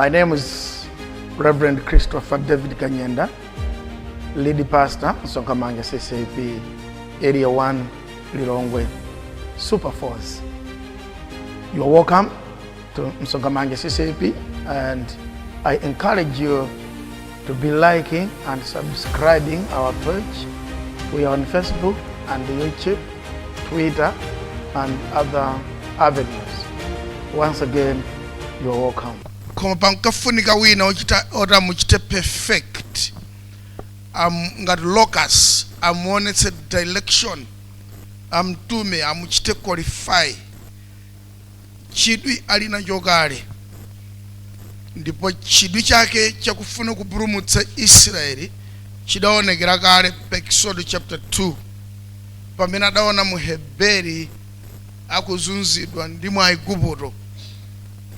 My name is Reverend Christopher David Kanyenda, lead pastor, Sokamanga CCP, Area 1, Lilongwe, Super Force. You are welcome to Msogamange CCP and I encourage you to be liking and subscribing our page. We are on Facebook and YouTube, Twitter, and other avenues. Once again, you are welcome. koma pankafunika wina ochita oti amuchite perfect am, ngati locus amuonetse direction amtume amuchite qualify chidwi ali nacho kale, ndipo chidwi chake chakufuna kupulumutsa Israeli chidaonekera kale pa Eksodo chapter 2 pamene adaona Muheberi akuzunzidwa ndi mu Aigupto.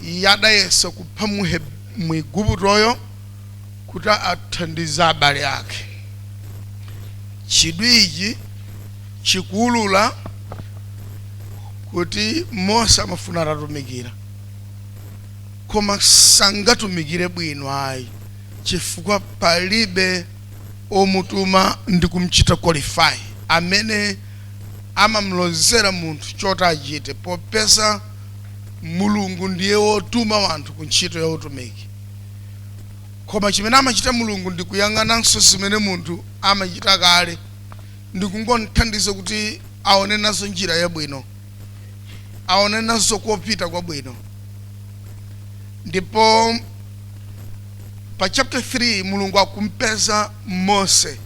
Iye adayesa kupha Muheb- Muiguptoyo kuti athandize abale ake. Chidwi ichi chikuwulula kuti Mose amafuna atatumikira, koma sangatumikire bwino ayi chifukwa palibe omutuma ndi kumchita qualify amene amamlozera munthu choti achite popeza Mulungu ndiye wotuma wanthu ku ntchito ya utumiki. Koma chimene amachita Mulungu ndi kuyang'ananso zimene munthu amachita kale ndi kungom'thandiza kuti aone nazo njira yabwino, aone nazo kopita kwabwino. Ndipo pa chapter 3 Mulungu akum'peza Mose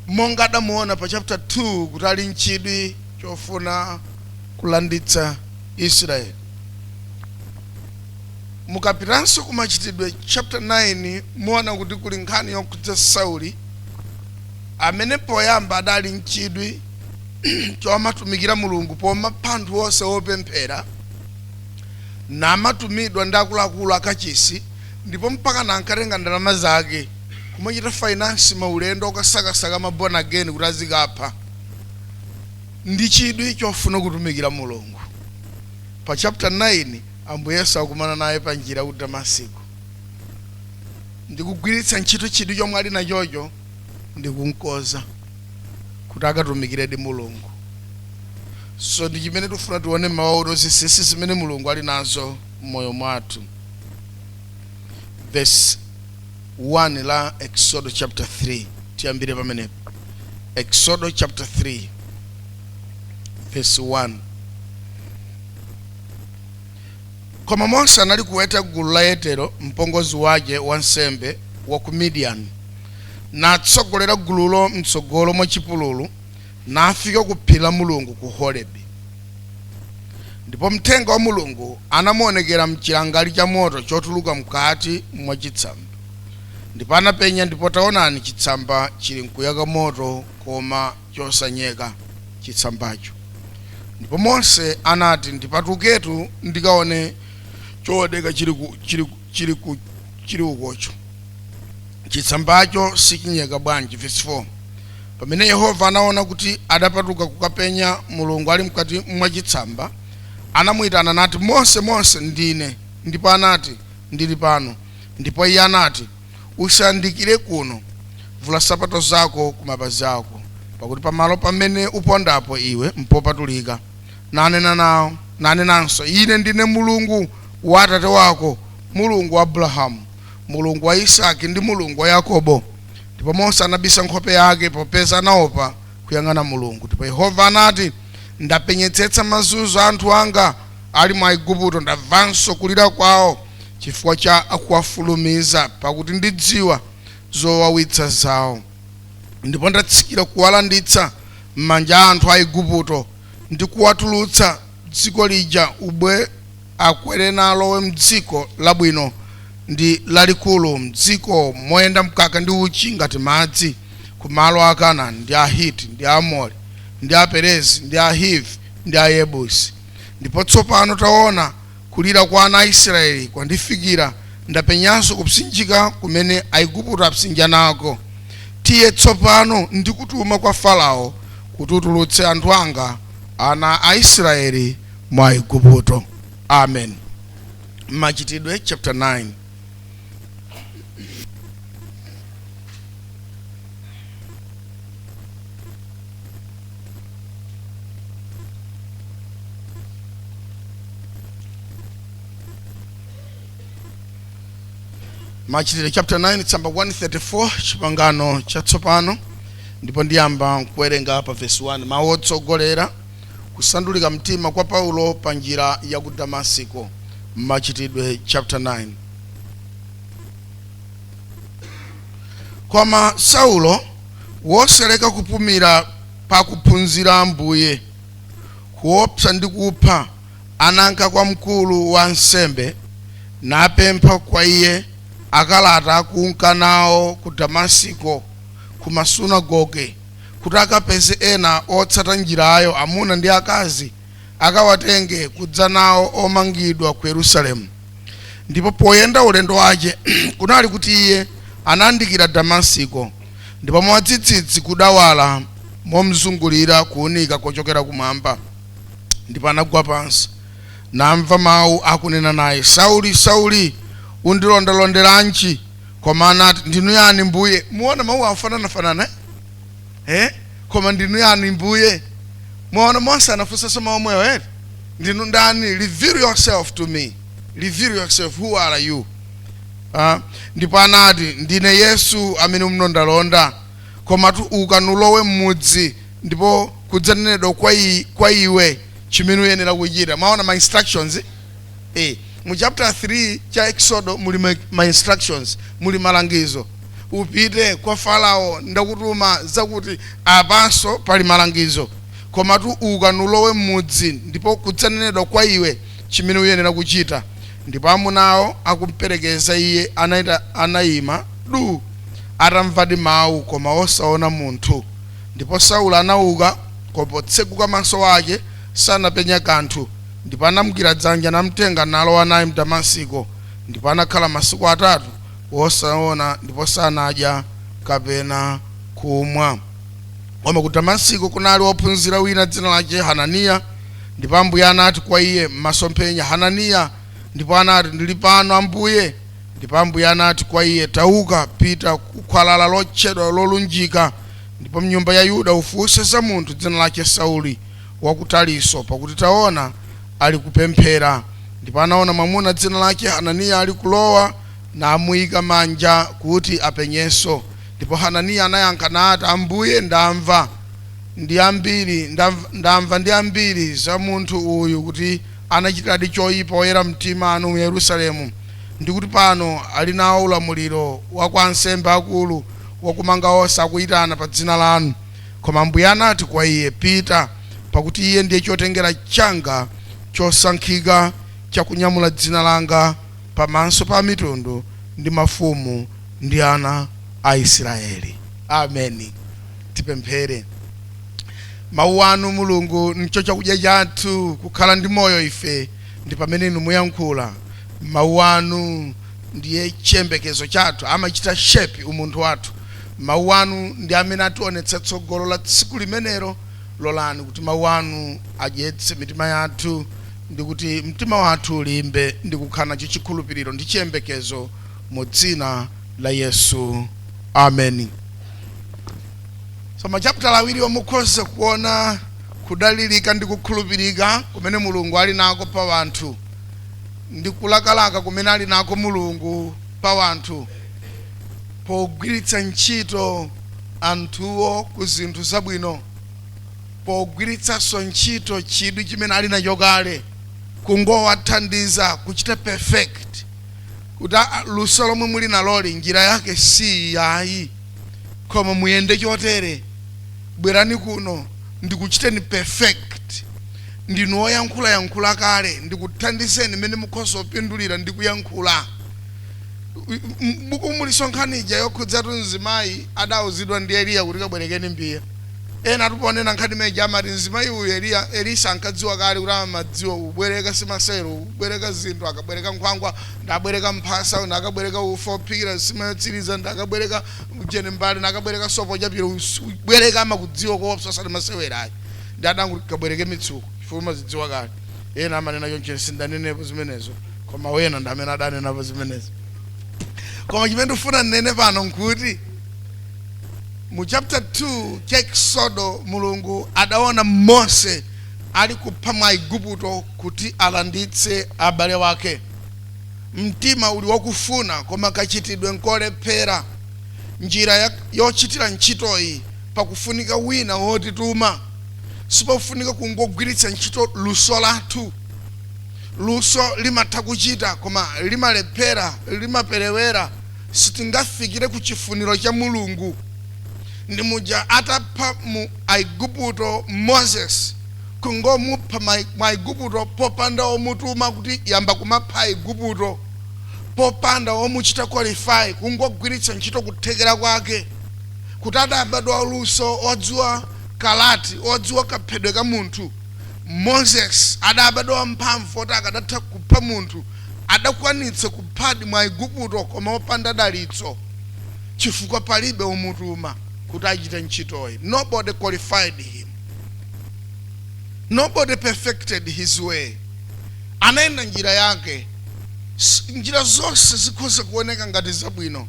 monga adamuona pa chapter 2 kuti ali n'chidwi chofuna kulanditsa Israeli. Mukapitanso ku Machitidwe chapter 9 muona kuti kuli nkhani yokhudza Sauli amene poyamba adali nchidwi chomatumikira Mulungu pomapha anthu onse opemphera namatumidwa ndi akuluakulu akachisi ndipo mpaka nankatenga ndalama zake kumachita finance maulendo okasakasaka ma born again kuti azikapha ndi chidwi chofuna kutumikira Mulungu. Pa chapter 9 Ambuye Yesu akumana naye pa njira ku Damasiko ndikugwiritsa ntchito chidwi chomwe ali nachocho ndikunkoza kuti akatumikiredi Mulungu so ndi chimene tifuna tione mmawa uno zinsinsi zimene Mulungu ali nazo m'moyo mwathu verse 1 la Exodo chapter 3 tiyambire pamenepo Exodo chapter 3 vesi 1 koma mose anali kuweta gulu la yetero mpongozi wache wansembe wa ku midiyani natsogolera gululo mtsogolo mwa chipululu nafika ku phiri la mulungu ku horebi ndipo mthenga wa mulungu anamuonekera mchilangali cha moto chotuluka mkati mwa chitsamba ndipo anapenya ndipo taonani chitsamba chili nkuyaka moto koma chosanyeka chitsambacho. Ndipo Mose anati, Ndipatuketu ndikaone chooneka chili ku- chili ku- chili ku- chili ukocho. Chitsambacho sichinyeka bwanji? Verse 4. Pamene Yehova anaona kuti adapatuka kukapenya Mulungu ali mkati mwa chitsamba, anamuyitana nati, Mose, Mose, ndine. Ndipo anati, Ndili pano. Ndipo iye anati, Usayandikire kuno. Vula nsapato zako ku mapazi ako, pakuti pamalo pamene upondapo iwe mpopatulika. Nanena nao, nanenanso, Ine ndine Mulungu wa atate wako, Mulungu wa Abrahamu, Mulungu wa Isaki, ndi Mulungu wa Yakobo. Ndipo Mose anabisa nkhope yake, popeza anaopa kuyang'ana Mulungu. Ndipo Yehova anati, Ndapenyetsetsa mazunzo a anthu anga ali mu Aigupto, ndamvanso kulira kwao. chifukwa cha akuwafulumiza, pakuti ndidziwa zowawitsa zawo. Ndipo ndatsikira kuwalanditsa m'manja a anthu a Iguputo, ndi kuwatulutsa dziko lija ubwe akwere nalowe m'dziko labwino ndi lalikulu, m'dziko moyenda mkaka ndi uchi ngati madzi, ku malo a Kanani, ndi Ahiti, ndi Aamori, ndi Aperezi, ndi Ahivi, ndi Ayebusi. Ndipo tsopano, taona, Kulira kwa ana a Israyeli kwandifikira, ndapenyanso kupsinjika kumene Aigupto apsinja nako. Tiye tsopano, ndikutuma kwa Farao, kuti utulutse anthu anga, ana a Israyeli, mu Aigupto. Amen. Machitidwe chapter 9. machitidwe chapter 9 tsamba 134 chipangano chatsopano ndipo ndiyamba kuwerenga pa vesi 1 mawu otsogolera kusandulika mtima kwa paulo pa njira ya ku damasiko machitidwe chapter 9 koma saulo wosaleka kupumira pa akuphunzira a Ambuye, kuopsa ndi kupha, ananka kwa mkulu wa ansembe, napempha kwa iye akalata akunka nao ku Damasiko ku masunagoge, kuti akapeze ena otsata Njirayo, amuna ndi akazi. akawatenge kudza nawo omangidwa ku Yerusalemu. Ndipo poyenda ulendo wace, kunali kuti iye anayandikira Damasiko, ndipo mwadzidzidzi kudawala momzungulira kuunika kocokera kumwamba, ndipo anagwa pansi, namva mau akunena naye, Sauli, Sauli, undilondalonderanji? Koma anati, Ndinu yani Mbuye? Muona mauwo akufanana-fanana, eh? eh? koma ndinu yani Mbuye mwaona Mose anafunsanso mawu omwewo eti ndinu ndani reveal yourself to me reveal yourself who are you Ah, ndipo anati ndine Yesu amene mlondalonda komatu uka nulowe m'mudzi ndipo kudzanenedwa kwa, i, kwa iwe chimene uyenera kuchita mwaona ma instructions Eee mu chapter 3 cha Eksodo muli ma, ma instructions muli malangizo upite kwa Farao ndakutuma zakuti apanso pali malangizo komatu uka nulowe m'mudzi ndipo kudzanenedwa kwa iwe chimene uyenera kuchita ndipo amunawo akumperekeza iye anaita, anaima du atamvadi mau koma osaona munthu ndipo Saulo anauka koma potseguka maso ake sanapenya kanthu Ndipo anamgwira dzanja, namtenga, nalowa naye m'Damasiko, ndipo anakhala masiku atatu wosaona, ndipo sanadya kapena kumwa. Koma ku Damasiko kunali wophunzira wina dzina lace Hananiya, ndipo Ambuye anati kwa iye m'masomphenya, Hananiya. Ndipo anati, Ndiri pano, Ambuye. Ndipo Ambuye anati kwa iye, Tauka, pita ku khwalala lotchedwa Lolunjika, ndipo m'nyumba ya Yuda ufunse za munthu dzina lace Sauli, wa ku Tariso, pakuti taona, alikupemphera, ndipo anaona mwamuna dzina lake Hananiya alikulowa, namuika manja kuti apenyenso. Ndipo Hananiya anayankha nati, Ambuye, ndamva ndi ambiri, ndamva, ndamva ndi ambiri za munthu uyu kuti anachitiradi choipa oyera mtima anu mu Yerusalemu, ndi kuti pano ali nao ulamuliro wa kwa ansembe akulu wakumanga onse akuitana pa dzina lanu. Koma Ambuye anati kwa iye, Pita, pakuti iye ndiye chotengera changa chosankhika cha kunyamula dzina langa pamaso pa amitundu ndi mafumu ndi ana a Isiraeli. Ameni. Tipemphere. Mawu anu, Mulungu, ndicho chakudya chathu, kukhala ndi moyo ife ndi pamene inu muyankhula Mawu anu. ndiye chiyembekezo chathu, amachita shape umunthu wathu. Mawu Anu ndi amene ationetsa tsogolo la tsiku limenero. Lolani kuti Mawu Anu adyetse mitima yathu, ndi kuti mtima wathu ulimbe ndi kukhala nacho chikhulupiriro ndi chiyembekezo, mu Dzina la Yesu. Ameni. So, machaputala awiriwa mukhoza kuona kudalirika ndi kukhulupirika kumene Mulungu ali nako pa anthu. ndi kulakalaka kumene ali nako Mulungu pa wanthu pogwiritsa ntchito anthuwo ku zinthu zabwino, pogwiritsanso ntchito chidwi chimene ali nacho kale kungowathandiza kuchita perfect kuti aa luso lomwe muli naloli njira yake si iyi ayi. koma muyende chotere bwerani kuno ndikuchiteni perfect ndinu oyankhula yankhula kale ndikuthandizeni mmene mukhoza kupindulira ndi kuyankhula m'bukumu muli nkhani ija yokhudzatu mzimayi adauzidwa ndi eliya kuti kabwerekeni mbiya ena atiponena nkhani ija amati mzimayi uyu eliya elisa ankadziwa kale kuti amadziwa kubwereka simasewero kubwereka zinthu akabwereka nkhwangwa Nabwereka mphasa, nakabwereka ufa wophikira nsima yotsiriza, nakabwereka ujeni mbale, nakabwereka sopo wochapira, kubwereka amakudziwa koopsa osati masewera ayi nde adangoti kabwereke mitsuko chifukwa umazidziwa kale ena amanena choncho ine sindanenepo zimenezo koma wena ndi amene adanenapo zimenezo koma chimene ndifuna nnene pano nkuti mu chapter 2 cha eksodo mulungu adaona mose ali kupha mu aigupto kuti alanditse abale wake Mtima uli wakufuna koma kachitidwe nkolephera. Njira yochitira ntchitoyi pakufunika wina wotituma. Sipofunika kungogwiritsa ntchito luso lathu. Luso limatha kuchita koma limalephera, limaperewera, sitingafikire ku chifuniro cha Mulungu. Ndi muja atapha mu Aiguputo Moses. kungomupha mu Aigupto popanda womutuma kuti yamba kumapha Aigupto, popanda womuchita qualify, kungogwiritsa ntchito kuthekera kwake kuti adabadwa waluso, wodziwa karati, wodziwa kaphedwe ka munthu, Moses adabadwa wamphamvu woti akadatha kupha munthu, adakwanitsa kuphadi mu Aigupto koma opanda dalitso chifukwa palibe womutuma kuti achite ntchitoyi, nobody qualified him. nobody perfected his way anayenda njira yake S- njira zonse zikhoza kuoneka ngati zabwino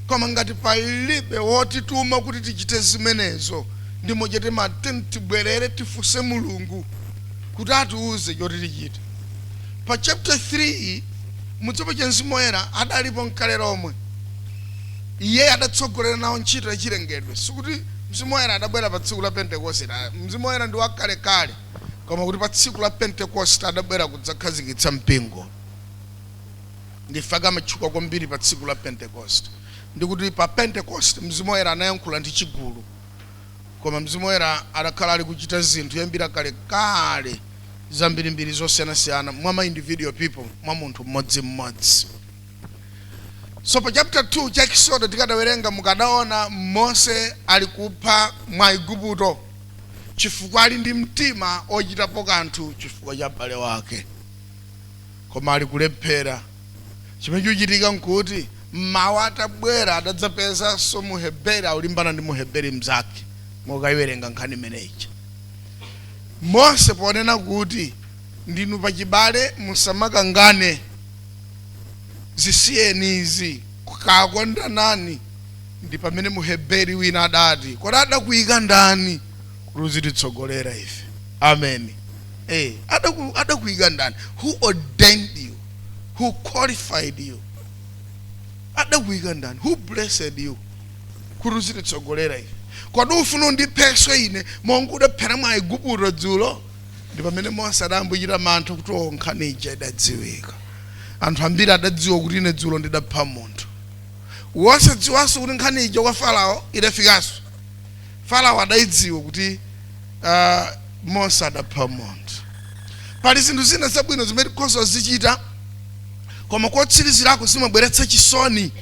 koma ngati palibe wotituma kuti tichite zimenezo ndi muja timati tibwerere tifunse mulungu kuti atiuze choti tichite pa chapter 3 mudziwa cha mzimu woyera adalipo nkale lomwe iye adatsogolera nawo ntchito yachilengedwe sikuti Mzimu Woyera adabwera pa tsiku la Pentekosite. Mzimu Woyera ndi wa kalekale, koma kuti pa tsiku la Pentekosite adabwera kudzakhazikitsa mpingo. Nchifukwa chake amatchuka kwambiri pa tsiku la Pentekosite. Ndi kuti pa Pentekosite Mzimu Woyera anayankhula ndi chigulu. Koma Mzimu Woyera adakhala ali kuchita zinthu kuyambira kalekale zambirimbiri zosiyanasiyana mwa ma individual people, mwa munthu mmodzimmodzi. so pa chapter 2 cha Eksodo tikadawerenga mukadaona Mose ali kupha Mwaigupto chifukwa ali ndi mtima ochitapo kanthu chifukwa cha m'bale wake koma ali kulephera chimene chochitika nkuti mmawa atabwera adadzapezanso muheberi akulimbana ndi muheberi mnzake mukayiwerenga nkhani imeneyi mose ponena kuti ndinu pachibale musamakangane zisiyeni izi kakondanani ndi pamene muheberi wina adati kodi adakuyika ndani kuti uzititsogolera ife amen eh, adaku- adakuyika ndani who ordained you who qualified you adakuyika ndani who blessed you kuti uzititsogolera ife kodi ufuna undiphe ine monga udaphera mwaigupto dzulo Ndi pamene Mose adayambochita mantha kuti oo nkhani ija idadziwika. Anthu ambiri adadziwa kuti ine dzulo ndidapha munthu. Osadziwanso kuti nkhani ija kwa Farawo idafikanso. Farawo adaidziwa kuti ah, Mose adapha munthu. Pali zinthu zina zabwino zimene tikhoza kuzichita koma kotsirizirako zimabweretsa chisoni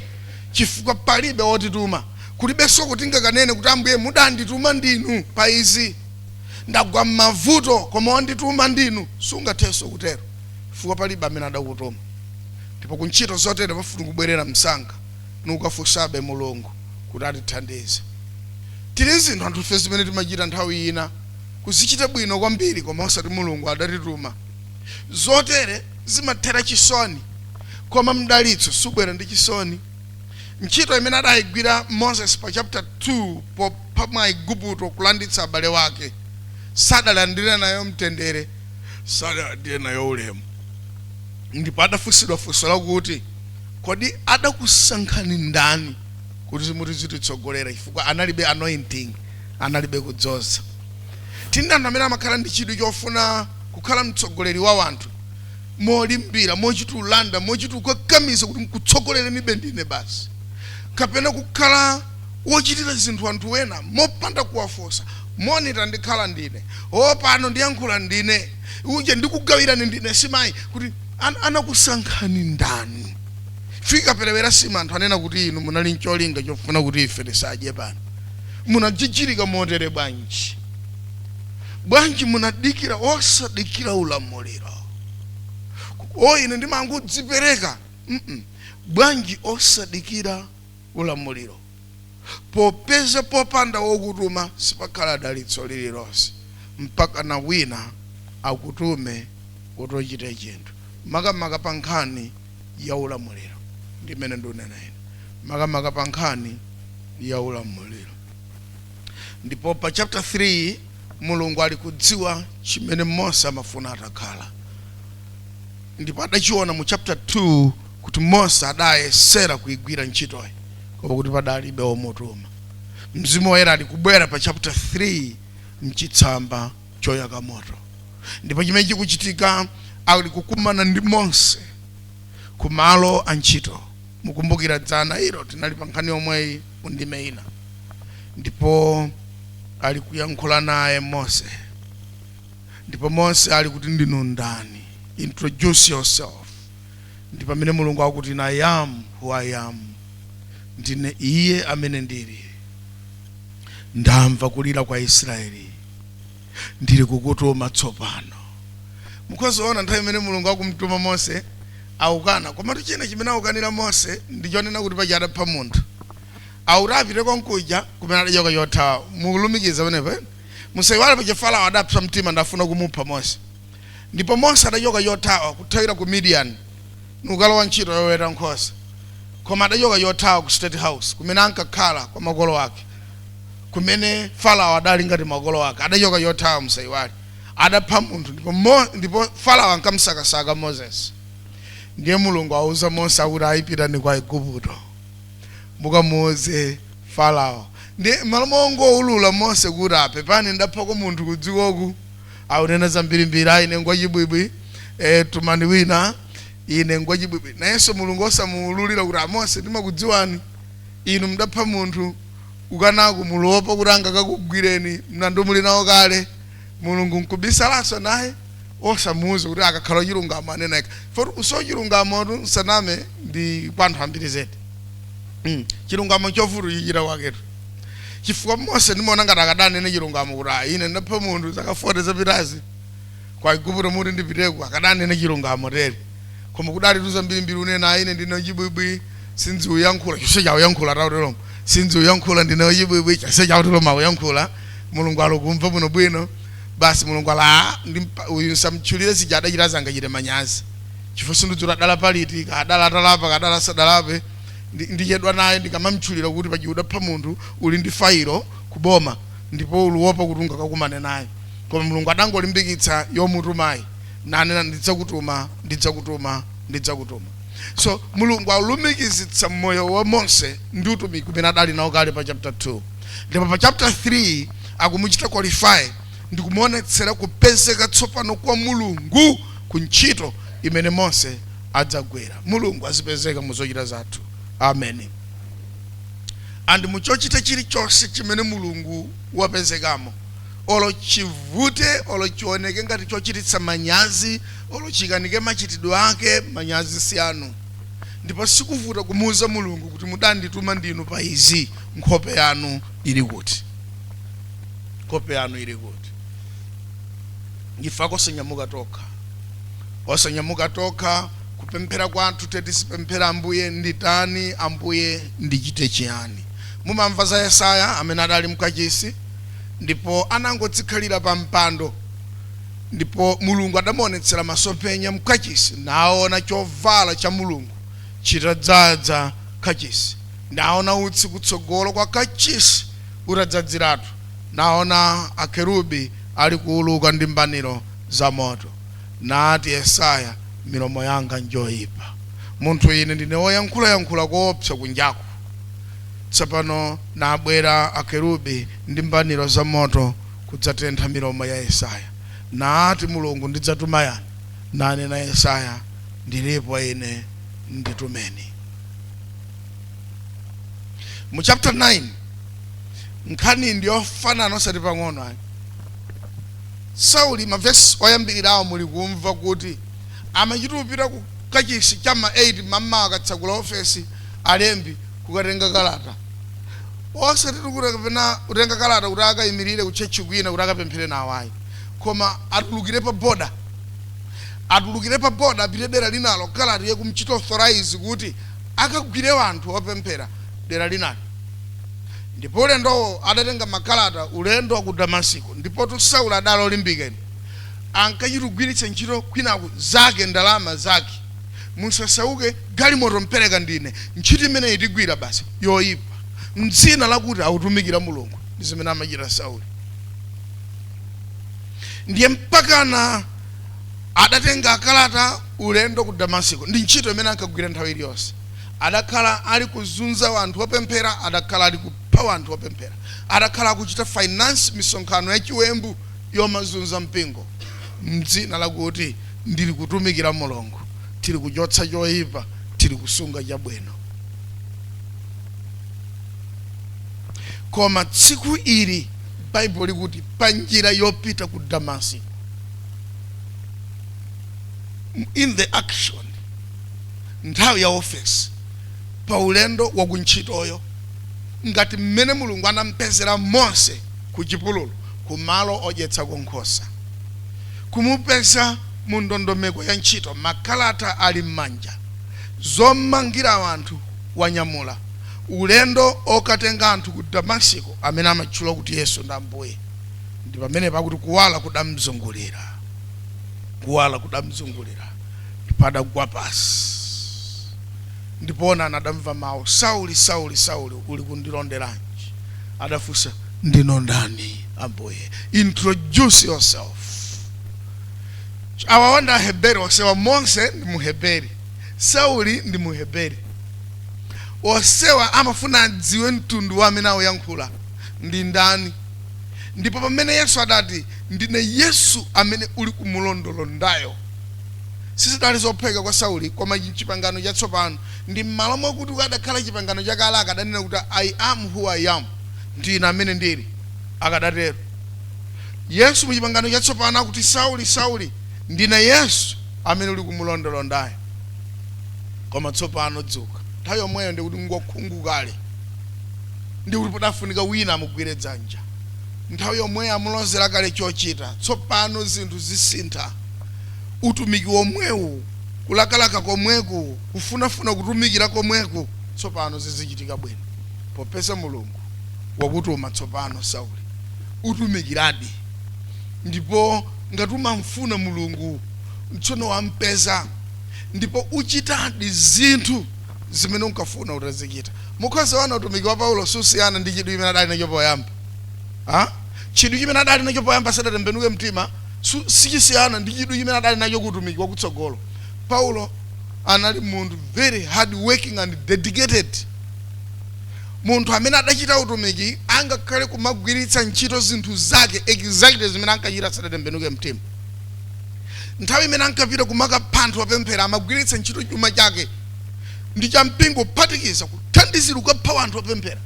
chifukwa palibe wotituma kulibenso kuti tingakanene kuti ambuye mudandituma ndinu pa izi ndagwa m'mavuto koma wandituma ndinu sungathenso kutero chifukwa palibe amene adakutuma ndipo ku ntchito zotere pafunika kubwerera msanga n'kukafunsabe mulungu kuti atithandize tili n'zinthu anthufe zimene timachita nthawi ina kuzichita bwino kwambiri koma osati mulungu adatituma zotere zimathera chisoni koma mdalitso subwera ndi chisoni ntchito imene adayigwira Moses pa chapter 2 popha Mwaigupto kulanditsa abale wake, sadalandire nayo mtendere, sadalandire nayo ulemu. Ndipo adafunsidwa funso lakuti, Kodi adakusankhani ndani kuti muzititsogolera? Chifukwa analibe anointing, analibe kudzoza. Tili ndi anthu amene amakhala ndi chidwi chofuna kukhala mtsogoleri wa wanthu, molimbira mochita kulanda mochita kukakamiza kuti nkutsogolerenibe ndine basi kapena kukhala wochitira zinthu anthu ena mopanda kuwafunsa monga ndikhala ndine o pano ndiyankhula ndine uje ndikugawirani ndine nsimayi kuti an anakusankhani ndani ikaperewera nsima anthu anena kuti inu munali ncholinga chofuna kuti ife tisadye pano munajijirika motere bwanji bwanji munadikira osadikira ulamuliro o ine ndimangodzipereka mm -mm. bwanji osadikira ulamuliro popeza popanda wokutuma sipakhala dalitso lililonse mpakana wina akutume kuti ochite chinthu makamaka pa nkhani ya ulamuliro ndimene ndunena ine makamaka pa nkhani ya ulamuliro ndipo pa chapter 3 mulungu ali kudziwa chimene mose amafuna atakhala ndipo adachiona mu chapter 2 kuti mose adayesera kuigwira ntchitoyi koma kuti padalibe womutuma mzimu woyera ali kubwera pa chapter 3 mchitsamba choyaka moto ndipo chimene chikuchitika ali kukumana ndi mose kumalo a ntchito mukumbukira dzana ilo tinali pa nkhani yomweyi mu ndime ina ndipo ali kuyankhula naye mose ndipo mose ali kuti ndinu ndani introduce yourself ndi pamene mulungu akuti i am who i am ndine iye amene ndili ndamva kulira kwa israeli ndili kukutuma tsopano mukhoza kuona nthawi imene mulungu akumtuma mose aukana komatu china chimene aukanira mose ndichonena kuti paja adapha munthu auti apite konkuja kumene adachoka chothawa mulumikiza pamenepo eh? musaiwale paja farao adapsa mtima nafuna kumupha mose ndipo mose adachoka chothawa kuthawira ku midiyani nkukalowa ntchito yoweta nkhosa koma adachoka chothawa ku state house kumene ankakhala kwa makolo ake kumene Farao adali ngati makolo ake, adachoka chothawa musaiwale, adapha munthu ndipo Mo, ndipo Farao ankamsakasaka Moses. Ndiye Mulungu auza Mose akuti ayi pitani kwa Aiguputo. Mukamuuze Farao. Ndiye mmalo mongoulula Mose kuti apepani ndaphako munthu kudzikoku aunena zambirimbiri ayi ine ndi wachibwibwi eh, tumani wina ine ndi wachibwibwi. Nayenso Mulungu osamuululira kuti a Mose timakudziwani inu mdapha munthu Mukukanako muluopa kuti angakakugwireni mlandu muli nawo kale, Mulungu nkubisalanso naye osamuuza kuti akakhala wachilungamo anena yekha. Chifukwa kuti chilungamotu musaname nkwa anthu ambiri zedi. Hmm, chilungamo nchovuta kuchichita kwaketu. Chifukwa Mose ndimaona ngati akadanena chilungamo kuti ah, ine ndapha munthu zaka 40 zapitazi. Ku Aigupto muti ndipiteko akadanena chilungamo tere. Koma kuyalatu zambirimbiri anena, ine ndine wachibwibwi, sindziuyankhula, chonsecho auyankhula auteromo, sindziuyankhula ndine wachibwibwi, chonsecho auteromo auyankhula. Mulungu ali kumva bwinobwino. Basi Mulungu ali aa, ndi mpa, uyu nsamtchulire zija adachitazi angachite manyazi. Chifukwa sindidziwa kuti adalapa liti, kaya adali atalapa, kaya adali asadalape. Ndi, ndichedwa naye ndikamamtchulira kuti paja udapha munthu, uli ndi failo kuboma ndipo uli kuopa kuti ungakakumane naye. Koma Mulungu adangolimbikitsa yomutumayi nanena ndidzakutuma, ndidzakutuma, ndidzakutuma. So Mulungu alumikizitsa moyo wa Mose ndi utumiki umene adali nawo kale pa chapter 2 ndipo pa chapter 3 akumuchita qualify ndikumuonetsera kupezeka tsopano kwa Mulungu ku ntchito imene Mose adzagwire. Mulungu azipezeka mu zochita zathu. Amen. And mu chochita chilichonse chimene Mulungu wapezekamo Olo chivute, olo chioneke ngati chochititsa manyazi, olo chikanike machitidwe ake, manyazi si anu. Ndipo sikuvuta kumuuza Mulungu kuti mudandituma ndinu pa izi, nkhope yanu ili kuti? Ife kosanyamuka tokha. Osanyamuka tokha, kupemphera kwathu te tizipemphera Ambuye nditani, Ambuye ndichite chiyani. Mumamva za Yesaya amene adali mkachisi? ndipo anangodzikhalira pa mpando. Ndipo Mulungu adamuonetsera masomphenya mkachisi, naona chovala cha Mulungu chitadzadza kachisi, naona utsi kutsogolo kwa kachisi utadzadziratu, naona akerubi alikuuluka ndi mbaniro za moto. Nati Yesaya, Milomo yanga njoipa, munthu ine, ndine woyankhulayankhula koopsa kunjaku. Tsopano nabwera akerubi ndi mbaniro za moto kudzatentha milomo ya Yesaya. Naati Mulungu, Ndidzatuma yani? Nanena Yesaya, Ndilipo ine, nditumeni. Mu chapter 9 nkhani ndi yofanana osati pang'ono ayi. Sauli mavesi oyambirirawo muli kumva kuti amachita kupita ku kachisi cha ma 8 mamawa akatsakula ofesi alembi kukatenga kalata osati tikuti kapena kutenga kalata kuti akayimirire ku church kwina kuti akapemphere nawo ayi koma atulukire pa boda atulukire pa boda apite dera linalo kalata yakumchita authorize kuti akagwire wanthu opemphera dera linalo ndipo ulendowo adatenga makalata ulendo wa ku damasiko ndipo tu Sauli adali olimbikani ankachita kugwiritsa ntchito kwinaku zake ndalama zake musasauke galimoto mpereka ndine ntchito imeneyi tigwira basi yoyipa mdzina lakuti akutumikira mulungu ndi zimene amachita sauli ndiye mpakana adatenga akalata ulendo ku damasiko ndi ntchito imene ankagwira nthawi iliyonse adakhala ali kuzunza wanthu opemphera adakhala ali kupha wanthu opemphera adakhala akuchita finance misonkhano yachiwembu yomazunza mpingo mdzina lakuti Ndili kutumikira Mulungu. Tili kuchotsa choipa, tili kusunga chabwino. Koma tsiku ili, Baibulo likuti, pa njira yopita ku Damasiko, in the action, nthawi ya ofesi, pa ulendo wa kuntchitoyo, ngati mmene Mulungu anampezera Mose ku chipululu, ku malo odyetsako nkhosa. Kumupeza mu ndondomeko ya ntchito Makalata ali m'manja Zomangira anthu Wanyamula ulendo okatenga anthu ku Damasiko Amene amatchula kuti Yesu ndi Ambuye Ndi pamenepa pakuti kuwala kudamzungulira Kuwala kudamzungulira Ndipo adagwa pansi Ndipo onani adamva mawu Sauli, Sauli, Sauli ulikundilonderanji? Adafunsa, ndinu ndani? Ambuye. Introduce yourself. Awawa ndi Aheberi onsewa. Mose ndi Muheberi, Sauli ndi Muheberi. Onsewa amafuna adziwe mtundu wa amene akuyankhula ndi ndani. Ndipo pamene Yesu adati, Ndine Yesu amene uli kumulondolondayo, sizidali zophweka kwa Sauli koma Chipangano Chatsopano ndi m'malo mwakuti kukadakhala Chipangano Chakale akadanena kuti I am who I am. Ndi Ine amene ndiri, akadatero Yesu mu Chipangano Chatsopano akuti, Sauli, Sauli, ndine Yesu amene uli kumulondolondayo. Koma tsopano dzuka. Nthawi yomweyo ndi kuti ngokhungu kale, ndi kuti padafunika wina amugwire dzanja. Nthawi yomweyo amulozera kale chochita. Tsopano zinthu zisintha. Utumiki womwewu, kulakalaka komweku, kufunafuna kutumikira komweku, tsopano zizichitika bwino. Popeza Mulungu wakutuma tsopano, Sauli, utumikiradi, ndipo ngati umamufuna Mulungu, tsono wampeza, ndipo uchitadi zinthu zimene unkafuna utazichita. Mukhoza kuona utumiki wa Paulo susiyana ndi chidwi chimene adali nacho poyamba. Ha? Chidwi chimene adali nacho poyamba asadatembenuke mtima su- sichisiyana ndi chidwi chimene adali nacho ku utumiki wakutsogolo. Paulo anali munthu very hard working and dedicated. munthu amene adachita utumiki angakhale kumagwiritsa ntchito zinthu zake exactly zimene ankachita asadatembenuke mtima nthawi imene ankapita kumakapha anthu opemphera amagwiritsa ntchito chuma chake ndi cha mpingo kuphatikiza kuthandizira kukapha anthu opemphera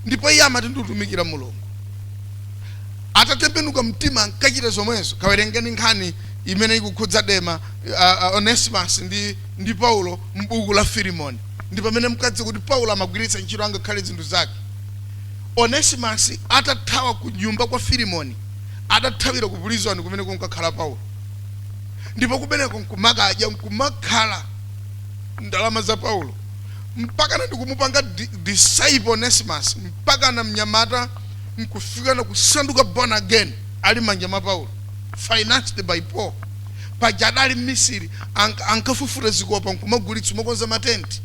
ndipo iye amati ndikutumikira mulungu atatembenuka mtima ankachita zomwezo kawerengeni nkhani imene ikukhudza dema uh, uh, onesimus ndi, ndi paulo m'buku la filimoni ndi pamene mkadziwa kuti Paulo amagwiritsa ntchito angakhale zinthu zake. Onesimus atathawa ku nyumba kwa Filimoni, adathawira ku pulizoni kumene kunkakhala Paulo, ndipo kumeneko nkumakadya nkumakhala ndalama za Paulo mpakana ndikumupanga di- disciple Onesimus mpakana mnyamata nkufikana kusanduka born again ali mmanja mwa Paulo financed by Paul. paja adali mmisiri ank ankafufuta zikopa nkumagulitsa kumakonza ma tent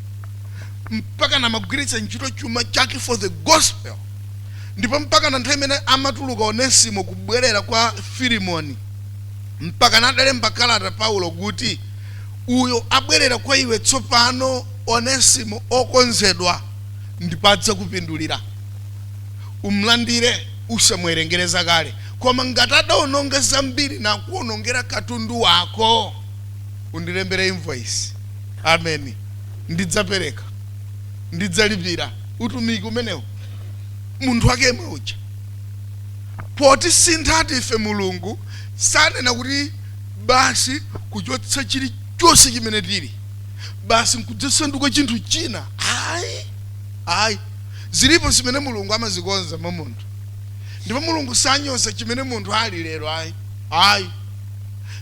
mpakana amagwiritsa ntchito chuma chake for the gospel ndipo mpakana nthawi imene amatuluka onesimo kubwerera kwa filimoni mpakana adalemba kalata paulo kuti uyo abwerera kwa iwe tsopano onesimo okonzedwa ndipo adzakupindulira umlandire usamuwerengere zakale Koma ngati adaononga zambiri nakuonongera katundu wako, undilembere invoice. Ameni. Ndidzapereka. Ndidzalipira utumiki umenewo. Munthu wake yemwe uja. Potisinthatu ife Mulungu sanena kuti basi kuchotsa chilichonse chimene tili, basi nkudzasanduka chinthu china. Ayi. Ayi. Zilipo zimene Mulungu amazikonza mwa munthu. Ndipo Mulungu sanyoza chimene munthu ali lero, ayi, ayi.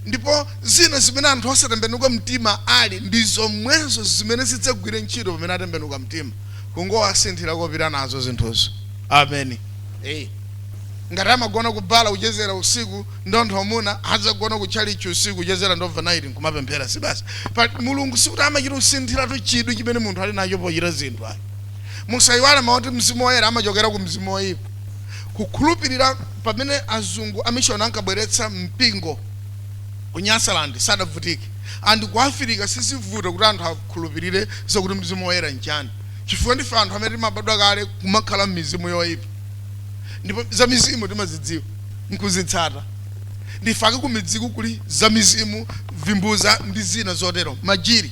Ndipo zina zimene anthu osatembenuka mtima ali, ndi zomwezo zimene zidzagwire ntchito pamene atembenuka mtima, kungowasinthira kopita nazo zinthuzo. Ameni. Eya. Ngati amagona ku bala kuchezera usiku, ndi anthu amuna, adzagona ku tchalitchi usiku kuchezera ndi overnight, nkumapemphera. Si basi. Pa, Mulungu sikuti amachita kusinthiratu chidwi chimene munthu ali nacho pochita zinthu, ayi. Musaiwale mawu oti Mzimu Woyera amachokera ku mzimu woipa. Kukhulupirira pamene azungu amishoni ankabweretsa mpingo ku Nyasaland sadavutike and ku Afirika sizivuta kuti anthu akhulupirire zakuti Mzimu Woyera nchani chifukwa ndife anthu amene timabadwa kale kumakhala mmizimu yoipa ndipo zamizimu timazidziwa nkuzitsata. Ndife akumidziku kuli zamizimu, vimbuza ndi zina zotero, majiri.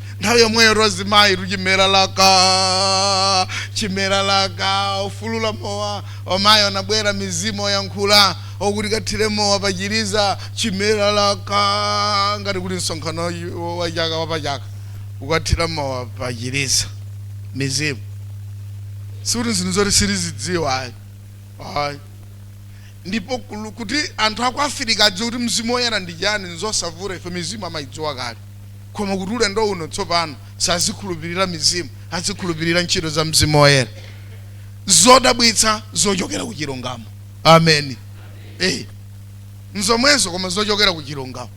nthawi yomweyo ozimayitu chimera laka chimera laka ofulula mowa omayi anabwera mizimu oyankhula okuti kathire mowa pachiliza chimera laka ngati kuti msonkhano wa- wa chaka wa pachaka ukathira mowa pachiliza mizimu sikuti zinthu zoti sitizidziwa ayi ayi ndipo kulu- kuti anthu aku afirika adziwe kuti mzimu woyera ndi chani nzosavuta ife mizimu amayidziwa kale koma kuti ulendo uno tsopano sazikhulupirira mizimu azikhulupirira ntchito za mzimu woyera zodabwitsa zochokera ku chilungamo ameni eh nzomwezo koma zochokera ku chilungamo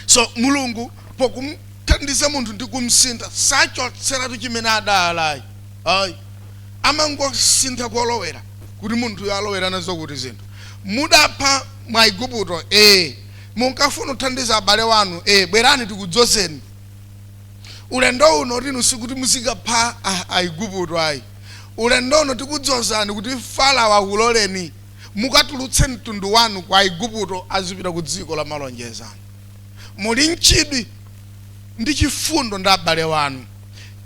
so mulungu pokumthandiza munthu ndi kumsintha sachotseratu chimene adali ayi amangosintha kolowera kuti munthuyo alowera nazo kuti zinthu mudapha Mwaiguputo ee Munkafuna kuthandiza abale wanu ee bwerani tikudzozeni ulendo uno kuti inu sikuti muzikapha a- Aiguputo ayi. Ulendo uno tikudzozani kuti Farao akuloleni mukatulutse mtundu wanu ku Aiguputo azipita ku dziko la malonjezano. Muli n'chidwi ndi chifundo ndi abale wanu,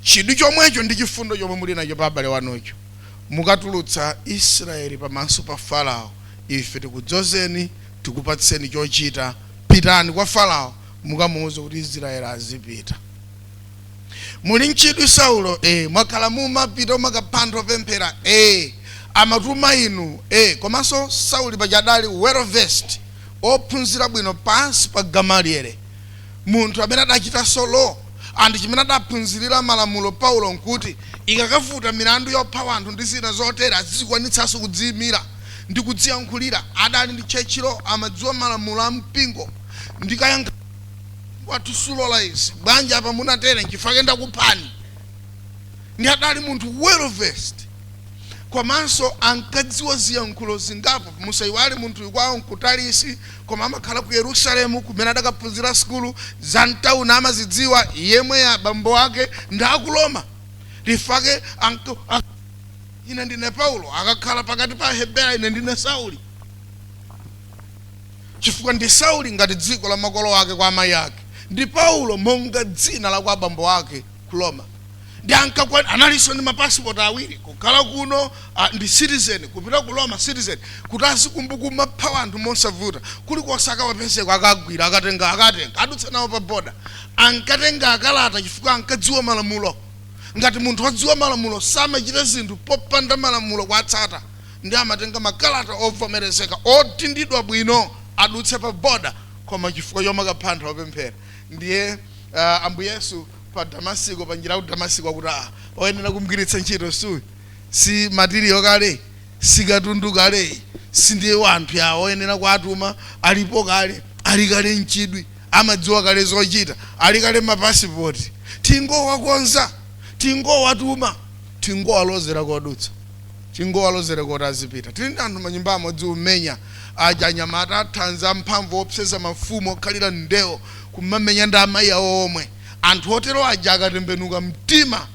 chidwi chomwecho ndi chifundo chomwe muli nacho pa abale wanucho. Mukatulutsa Israeli pamaso pa Farao, ife tikudzozeni tikupatseni chochita. Pitani kwa Farao, mukamuuze kuti Israeli azipita. Muli nchidwi Saulo e, mwakhala mumapita umakapha anthu opemphera e, omatuma inu e, komanso Sauli paja adali well versed, ophunzira bwino pansi pa Gamaliele. munthu amene adachitanso Law and chimene adaphunzirira malamulo Paulo nkuti ikakavuta milandu yopha wanthu ndi zina zotere azizikwanitsanso kudziimira ndi kudziyankhulira adali ndi church law amadziwa malamulo a mpingo ndi kayankh Mpingo wathu sulola izi bwanji apa mwatere nchifukwa chake ndakuphani ndi adali munthu well versed komanso ankadziwa ziyankhulo zingapo musaiwale munthuyu kwawo nku Tarisi koma amakhala ku Yerusalemu kumene adakaphunzira sukulu, za m'tauni amazidziwa, yemwe a bambo ake ndi a ku Roma. Nchifukwa chake anka, a, ine ndine Paulo, akakhala pakati pa Ahebera, ine ndine Sauli. Chifukwa ndi Sauli ngati dzina la makolo ake kwa amayi ake, ndi Paulo monga dzina la kwa abambo ake. ku roma ndi ankakwa- analinso ndi mapasipoti awiri kukhala kuno ah, ndi citizen kupita ku roma citizen kuti azingopita kumapha anthu mosavuta kulikonse akawapezeko akagwira akatenga akatenga adutsa nawo pa boda ankatenga makalata chifukwa ankadziwa malamulo ngati munthu wodziwa malamulo samachita zinthu popanda malamulo kuwatsata ndi amatenga makalata ovomerezeka otindidwa bwino adutse pa boda koma chifukwa chomakapha anthu opemphera Ndiye ah, Ambuye Yesu pa Damasiko, pa njira ya ku Damasiko akuti ah, oyenera kumgwiritsa ntchito suyu si matiriyo kaleyi si katundu kaleyu si ndiye wanthu awa oyenera kuwatuma alipo kale ali kale nchidwi amadziwa kale zochita ali kale mapasipoti tingowakonza tingowatuma tingowalozera kodutsa Tingowalozereko kuti azipita. Tili ndi anthu manyumbamu odziwa kumenya aja, anyamata athanzi amphamvu oopseza mafumu okhalira ndewo kumamenya ndi amayi awo omwe. Anthu otero aja akatembenuka mtima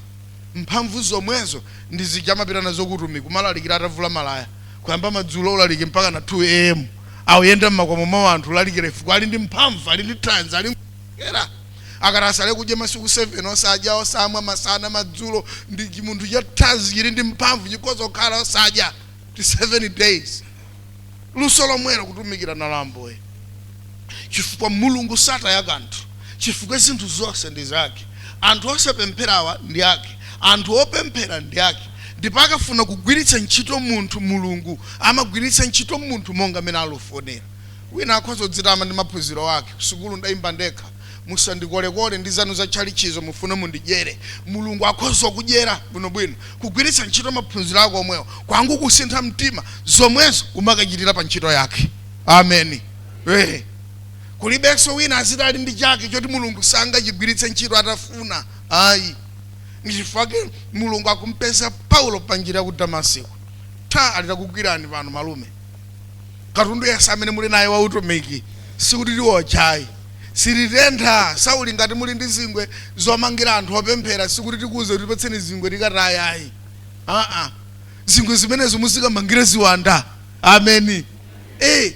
mphamvu zomwezo ndi zija kumapita nazo ku utumiki kumalalikira atavula malaya. Kuyamba madzulo ulaliki mpakana 2 am. Akuyenda m'makomo mwa anthu kulalikira chifukwa ali ndi mphamvu, ali ndi thanzi, ali ngwira. akati azisala kudya masiku 7 osadya osamwa masana madzulo ndi chimunthu cha thanzi chili ndi mphamvu chikhoza kukhala osadya kanthu 7 days luso lomwelo kutumikira nalo ambuye chifukwa mulungu sataya kanthu chifukwa zinthu zonse ndi zake anthu osapempherawa ndi ake anthu opemphera ndi ake ndipo akafuna kugwiritsa ntchito munthu mulungu amagwiritsa ntchito munthu monga amene akufunira Wina akhoza kudzitama ndi maphunziro ake, Kusukulu ndayimba ndekha. Musandikolekole ndi zanu za tchalitchizo mufune mundidyere. Mulungu akhoza kukudyera bwinobwino. Kugwiritsa ntchito maphunziro ako omwewo kwangokusintha mtima, zomwezo umakachitira pa ntchito yake. Ameni. Eee. Kulibenso wina aziti ali ndi chake choti Mulungu sangachigwiritse ntchito atafuna ayi. Ndi chifukwa chake Mulungu akumpeza Paulo pa njira ya ku Damasiko. Tha! Ali takugwirani pano malume. katundu yense amene muli naye wa utumiki sikuti tiwotcha ayi sititentha sauli ngati muli ndi zingwe zomangira anthu opemphera sikuti tikuuze kuti patseni zingwe tikataye ayi aa zingwe zimenezo muzikamangira ziwanda ameni eh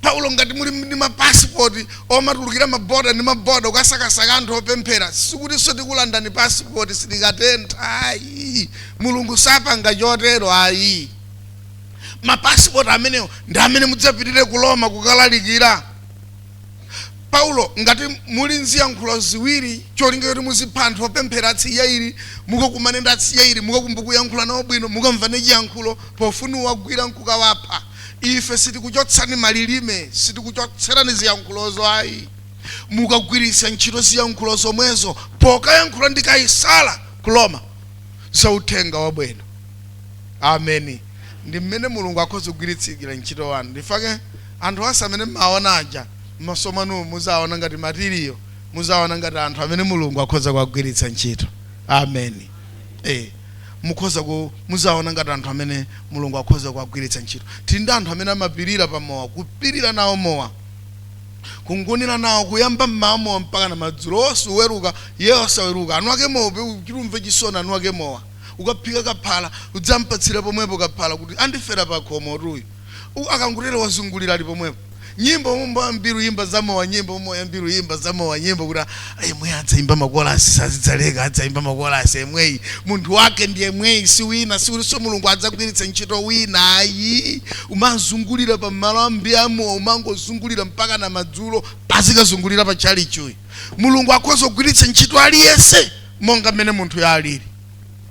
paulo ngati muli ndi mapasipoti omatulukira maboda ndi maboda kukasakasaka anthu opemphera sikutinso tikulandani pasipoti sitikatentha ayi mulungu sapanga chotero ayi mapasipoti amenewo ndi amene mudzapitire ku roma kukalalikira paulo ngati muli nziyankhulo ziwiri cholinga choti muzipha anthu opemphera atsidya ili mukakumane ndi atsidya ili mukakumbuke kuyankhula nawo bwino mukamvane chiyankhulo pofuna kuwagwira nkukawapha ife sitikuchotsani malilime sitikuchotserani ziyankhulozo ayi mukagwiritsa ntchito ziyankhulo zomwezo pokayankhula ndi kaisala ku roma za uthenga wabwino Ameni. Ndi mmene Mulungu akhoza kugwiritsiira ntchito anthu. Nchifukwa chake anthu onse amene mmawawona aja, mmaso mwanumu muzawawona ngati matiriyo, muzawawona ngati anthu amene Mulungu akhoza kuwagwiritsa ntchito. Ameni. E. Mukhoza ku, muzawawona ngati anthu amene Mulungu akhoza kuwagwiritsa ntchito. Tiri ndi anthu amene amapirira pa mowa, kupirira nawo mowa, kungunira nawo, kuyamba mmawa mowa mpakana madzulo, wonse kuweruka, Iye osaweruka, anu ake mowa, kuti umve chisoni, anu ake mowa. ukaphika kaphala udzampatsire pomwepo kaphala kuti andifera pakhomotu uyu U- akangotero wazungulira ali pomwepo nyimbo mmmba mbiru yimba zamowa nyimbo moya mbiru yimba zamowa nyimbo kuti "Ah, yemwe adzayimba makolasi sadzaleka adzayimba makolasi yemweyi munthu wake ndi yemweyi si wina sikutinso mulungu adzagwiritsa ntchito wina ayi umazungulira pa malo ambiri amowa umangozungulira mpaka na madzulo azikazungulira pa tchalitchi uyu mulungu akhoza kugwiritsa ntchito aliyense monga mmene munthuyo alili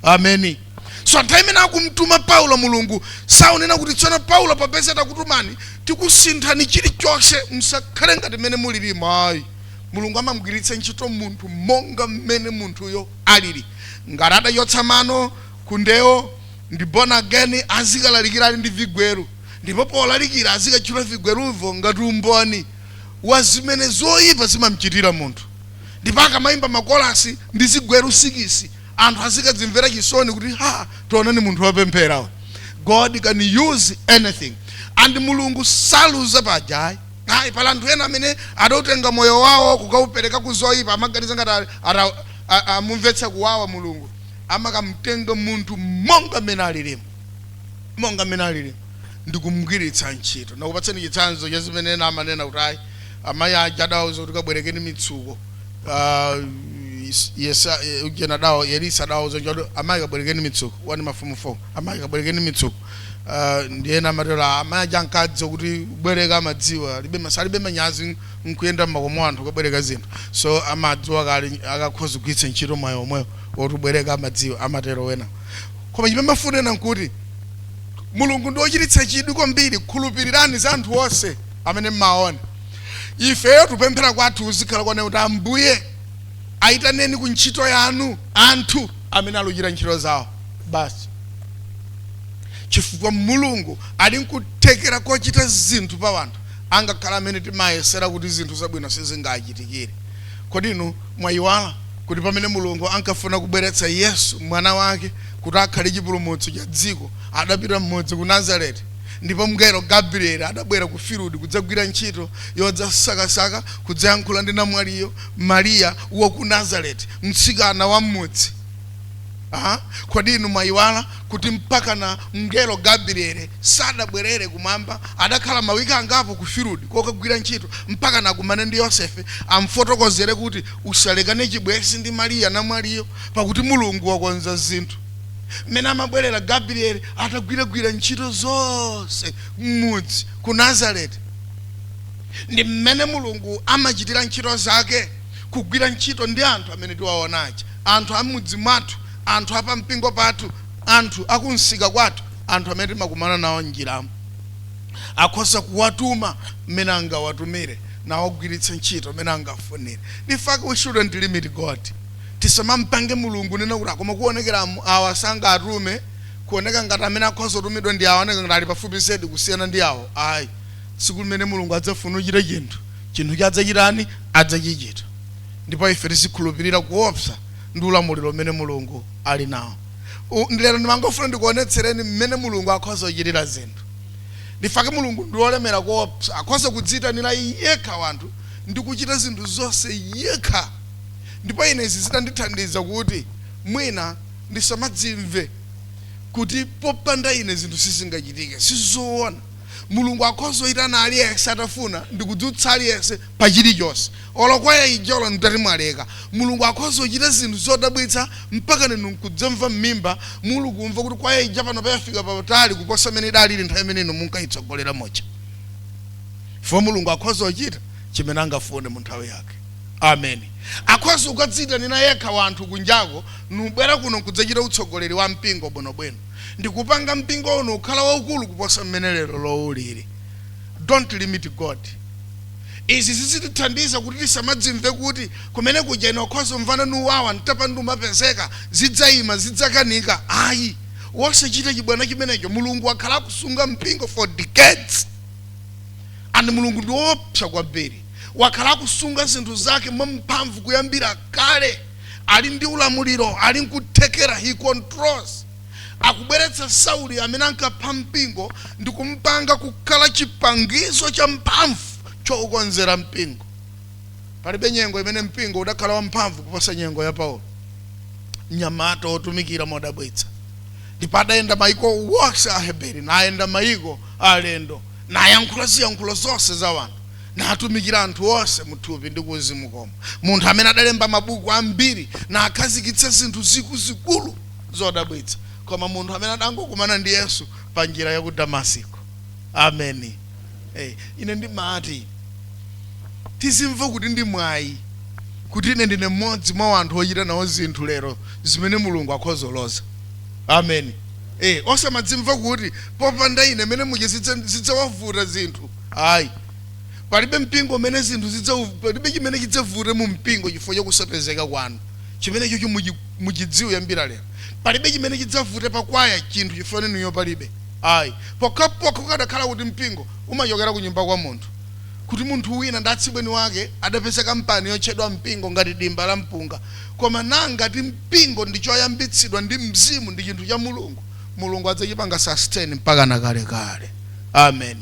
ameni so nthawi imene akumtuma paulo mulungu saunena kuti tsono paulo popeza takutumani tikusinthani chilichonse msakhale ngati mmene mulilimo ayi mulungu amamgwiritsa ntchito munthu monga mmene munthuyo alili ngati adachotsa mano kundewo ndi born again azikalalikira ali ndi vigweru ndipo polalikira azikatchula vigweruvo ngati umboni wa zimene zoyipa zimamchitira munthu ndipo akamayimba makolasi ndi zigweru sikisi anthu azikadzimvera chisoni kuti ha tionani munthu wopemphera uyu god can use anything and mulungu saluza paja ayi ayi pali anthu ena amene adautenga moyo wawo kukaupereka ku zoyipa amaganiza ngati ali- ata- atamumvetsa kuwawa mulungu amakamtenga munthu monga mmene alilimo monga mmene alilimo ndikumgwiritsa ntchito nakupatseni chitsanzo cha zimene ena amanena kuti ayi amayi aja adawauza kuti kabwerekeni mitsuko Ah, yes- yesa eh, ujeni adawauza elisa adawauza kuti amayi kabwerekeni mitsuko wani mafumu folo amayi kabwerekeni mitsuko Ah, ndiye ena amatero "Ah, amayi aja ankadziwa kuti kubwereka amadziwa alibe man- alibe manyazi nkuyenda mmakomo a anthu kabwereka zinthu so amadziwa kale akakhoza kugwiritsa ntchito mwayi omwewo woti kubwereka amadziwa amatero wena koma chimene ndimafuna kunena nkuti mulungu ndi wochititsa chidwi kwambiri khulupirirani za anthu onse amene mmawaona ifeyo kupemphera kwathu kuzikhala konena kuti ambuye ayitaneni ku ntchito yanu anthu amene aluchita ntchito zawo basi chifukwa mulungu ali nkuthekera kochita zinthu pa wanthu angakhale amene timayesera kuti zinthu zabwino sizingachitikire kodi inu mwayiwala kuti pamene mulungu ankafuna kubweretsa yesu mwana wake kuti akhale chipulumutso cha dziko adapita mmudzi ku nazareti Ndipo mngelo Gabrieli adabwera ku field kudzagwira ntchito yodzasakasaka, kudzayankhula ndi namwaliyo, Maria, wa ku Nazareti, mtsikana wa m'mudzi. Ah, kodi inu mwayiwala kuti mpakana mngelo Gabrieli sadabwerere kumwamba, adakhala mawiki angapo ku field kokagwira ntchito, mpakana akumane ndi Yosefe, amfotokozere kuti, Usalekane chibwenzi ndi Maria, namwaliyo, pakuti Mulungu wakonza zinthu. mmene amabwerera Gabrieli atagwiragwira ntchito zonse m'mudzi ku Nazareti. Ndi mmene Mulungu amachitira ntchito zake, kugwira ntchito ndi anthu amene tiwaona aja, anthu a m'mudzi mwathu, anthu a pampingo pathu, anthu a kumsika kwathu, anthu amene timakumana nawo m'njiramo. Akhoza kuwatuma mmene angawatumire, nawagwiritsa ntchito mmene angafunire. In fact, we shouldn't limit God. Tisamampange Mulungu nkunena kuti koma kuonekera awo sangatume, kuoneka ngati amene akhoza kutumidwa ndi awa aoneka ngati ali pafupi zedi kusiyana ndi awo. Ayi. Tsiku limene Mulungu adzafuna kuchita chinthu, chinthucho adzachitani? Adzachichita. Ndipo ife tizikhulupirira kuopsa ndi ulamuliro umene Mulungu ali nawo. U, lero ndimangofuna ndikuonetsereni mmene Mulungu akhoza kuchitira zinthu. In fact Mulungu ndi wolemera koopsa. Akhoza kudziitanira yekha wanthu ndi kuchita zinthu zonse yekha. ndipo ine izi zidandithandiza kuti mwina ndisamadzimve kuti popanda ine zinthu sizingachitike. Sizoona. Mulungu akhoza kuitana aliyense atafuna ndikudzutsa aliyense pa chilichonse. Olo kwaya ija olo mutati mwaleka, Mulungu akhoza kuchita zinthu zodabwitsa mpakana inu nkudzamva mmimba muli kumva kuti kwaya ija panopa yafika patali kuposa mmene idalili nthawi imene inu munkaitsogolera muja. Chifukwa Mulungu akhoza kuchita chimene angafune mu nthawi yake. Amen akhoza kukadziitanira yekha wanthu kunjako nubwera kuno nkudzachita utsogoleri wa mpingo bwinobwino ndikupanga mpingo uno kukhala waukulu kuposa mmene lerolo uliri. Don't limit God. Izi zizitithandiza kuti tisamadzimve kuti kumene kuja ine nkhoza kumvana ndi awa ntapanda kumapezeka zidzaima zidzakanika ayi wosachita chibwana chimenecho Mulungu wakhala akusunga mpingo for decades and Mulungu ndi woopsa kwambiri. wakhala akusunga zinthu zake mwamphamvu kuyambira kale ali ndi ulamuliro ali nkuthekera he controls akubweretsa sauli amene ankapha mpingo ndi kumpanga kukhala chipangizo cha mphamvu choukonzera mpingo palibe nyengo imene mpingo udakhala wamphamvu kuposa nyengo ya paulo mnyamata otumikira modabwitsa ndipo adayenda maiko wonse a Aheberi nayenda maiko a alendo nayankhula ziyankhulo zonse za wanthu natumikira anthu onse mu thupi ndi kuuzimu komwe, munthu amene adalemba mabuku ambiri nakhazikitsa zinthu zikuluzikulu zodabwitsa koma munthu amene adangokumana ndi yesu pa njira ya ku damasiko ameni hey, ine ndimati tizimva kuti ndi mwayi kuti ine ndine mmodzi mwa anthu ochita nawo zinthu lero zimene mulungu akulozaloza ameni hey, osamadzimva kuti popanda ine mmene muja zidzawavuta zinthu Ayi. Palibe mpingo umene zinthu zidza, palibe chimene chidzavute mu mpingo chifukwa cha kusapezeka kwanu. Chimenechocho muchi, muchidziwe kuyambira lero. Palibe chimene chidzavute pa kwaya chinthu chifukwa chanu inuyo palibe. Ayi. Pokhapokha kukadakhala kuti mpingo umachokera ku nyumba kwa munthu, kuti munthu wina ndi atsibweni wake adapeza kampani yotchedwa mpingo ngati dimba la mpunga. Koma na ngati mpingo ndi choyambitsidwa ndi Mzimu, ndi chinthu cha Mulungu, Mulungu adzachipanga sustain mpakana kalekale. amen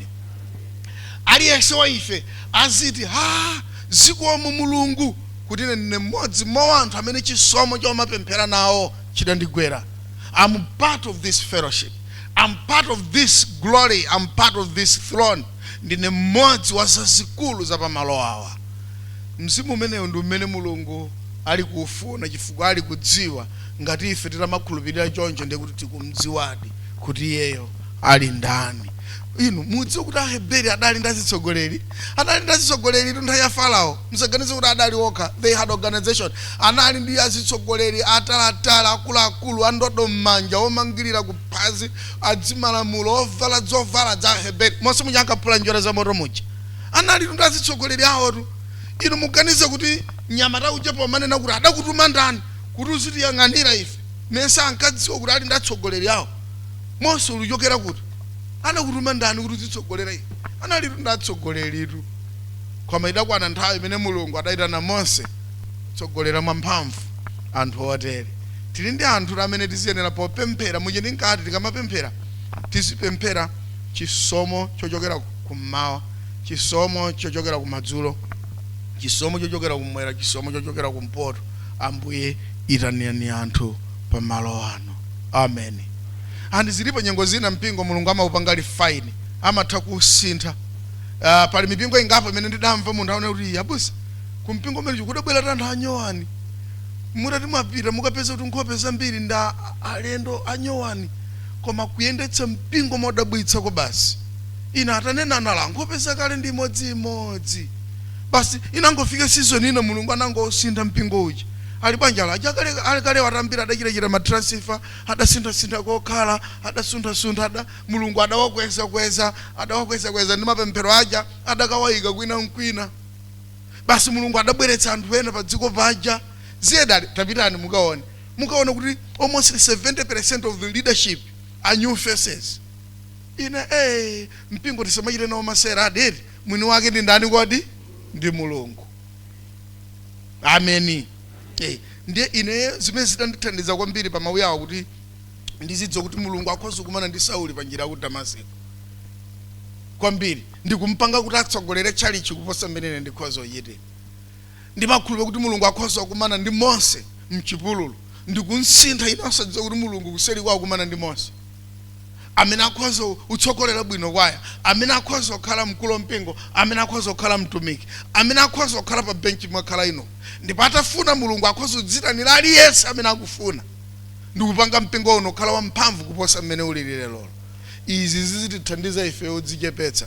aliyense wa ife aziti a zikomo mulungu kuti ine ndine mmodzi mwa anthu amene chisomo chomapemphera nawo chidandigwera am part of this fellowship am part of this glory am part of this throne ndine mmodzi wa zazikulu za pamalo awa mzimu umenewo ndi umene mulungu ali kuufuna chifukwa ali kudziwa ngati ife titamakhulupirira choncho ndiye kuti tikumdziwadi kuti iyeyo ali ndani inu mudziwe kuti aheberi adali ndi azitsogoleri adali ndi azitsogoleri nthawi ya farao musaganize kuti adali okha they had organization anali ndi azitsogoleri ataliatali akuluakulu andodo m'manja omangirira kuphazi adzimalamulo ovala zovala za aheberi monse muja ankapula njerwa za moto muja analitu ndi azitsogoleri awotu inu muganize kuti mnyamata uja pomanena kuti adakutuma ndani kuti uzitiyang'anira ife mesa ankadziwa kuti ali ndi atsogoleri awo Mose ulichokera kuti? Anakutuma ndani kuti uzitsogolera ife? Analitu ndi atsogoleritu. Koma idakwana nthawi imene Mulungu adayitana Mose kutsogolera mwamphamvu anthu otere. Tili ndi anthu amene tiziyenera popemphera muja ndinkati tikamapemphera tizipemphera chisomo chochokera kummawa, chisomo chochokera kumadzulo, chisomo chochokera kummwera, chisomo chochokera kumpoto. Ambuye itanani anthu pa malo ano amen and zilipo nyengo zina mpingo mulungu amaupanga refine amatha kusintha uh, pali mipingo ingapo imene ndidamva munthu aone kuti abusa ku mpingo umene uja kudabwera anthu anyowani mutati mwapita mukapeza kuti nkhope zambiri ndi alendo anyowani koma kuyendetsa mpingo modabwitsa ko basi ine atanena anali nkhope zakale ndi imodziimodzi basi inangofika sizoni ina mulungu anangosintha mpingo uja Ali banja la aja akale akale watambira adachita chita ma transfer adasintha sintha kokhala adasuntha suntha ada Mulungu adawakweza kweza adawakweza kweza ndi mapemphero aja adakawaika kwina nkwina basi Mulungu adabweretsa anthu ena pa dziko paja ziye adati tapitani mukaone mukaona kuti almost 70% of the leadership are new faces ine eh mpingo tisamachite nawo masewera adati mwini wake ndi ndani kodi ndi Mulungu ameni Eh, ndiye ine zimene zidandithandiza kwambiri pa mawu awo kuti ndizidziwa kuti mulungu akhoza kumana ndi sauli pa njira ya ku damasiko kwambiri ndikumpanga kuti atsogolere tchalitchi kuposa mmene ine ndikhoza kuchitira ndimakhulupirira kuti mulungu akhoza kumana ndi mose mchipululu ndikumsintha ine osadziwa kuti mulungu kuseriko wakumana ndi mose amene akhoza kutsogolera bwino kwaya amene akhoza kukhala mkulu wa mpingo amene akhoza kukhala mtumiki amene akhoza kukhala pa benchi mwakhala ino ndipo atafuna mulungu akhoza kudzitanira aliyense amene akufuna ndikupanga mpingo uno kukhala wamphamvu kuposa mmene ulili lero izi zizitithandiza ife kudzichepetsa